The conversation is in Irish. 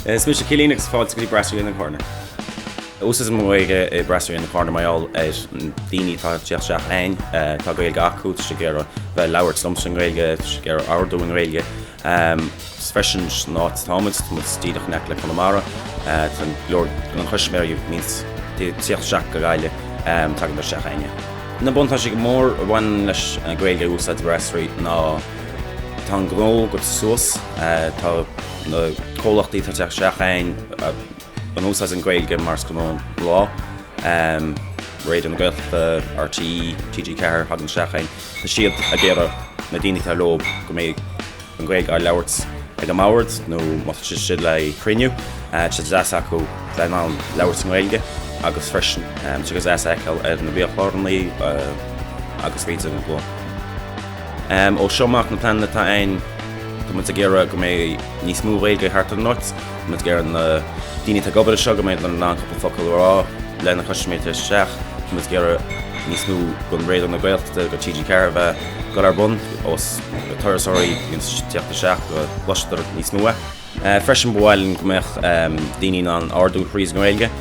Is mise Cillín agus fáilte go dtí Brasserie in the Corner. Úsáidtear an Ghaeilge i Brasserie in the Corner mar gheall ar na daoine atá ag tíocht isteach ann. Tá Gaeilge acu, tá siad ag iarraidh bheith ag labhairt liomsa i nGaeilge, tá siad ag iarraidh ordú i nGaeilge. Freisin san áit atá muid, tá muid díreach in aice le Conamara, tá go leor de na custaiméirí ag tíocht isteach go Gaillimh, tagann siad isteach againn. Na buntáistí is mó a bhaineann leis an Ghaeilge a úsáid sa Bhrasserie ná tá an gnó ag dul suas, tá na comhlachtaí atá ag tíocht isteach ann ag úsáid an Ghaeilge mar ghnó an lae, Raidió na Gaeltachta, RTÉ, TG4, tagann siad isteach ann. Tá siad ag iarraidh na daoine atá leob go mbeidh an Ghaeilge á labhairt ag a mbord nó má tá siad istigh le cruinniú, tá sé go deas acu bheith in ann labhairt i nGaeilge agus freisin tá sé go deas í a fheiceáil ar na biachlárnaí agus go deimhin go bhfuil. Ó seo amach na pleananna atá ann tá muid ag iarraidh go mbeidh níos mó Gaeilge thart ar an áit. Muid ag iarraidh na daoine atá ag obair anseo go mbeidh muid in ann cúpla focal a rá lena custaiméirí ag tíocht isteach. Muid ag iarraidh níos mó den Raidió na Gaeltachta agus TG4 a bheith ag dul ar bun agus na turasóirí ag tíocht isteach go gcloistear níos mó é. Freisin ba mhaith linn go mbeadh daoine in ann ordú thríd an Ghaeilge.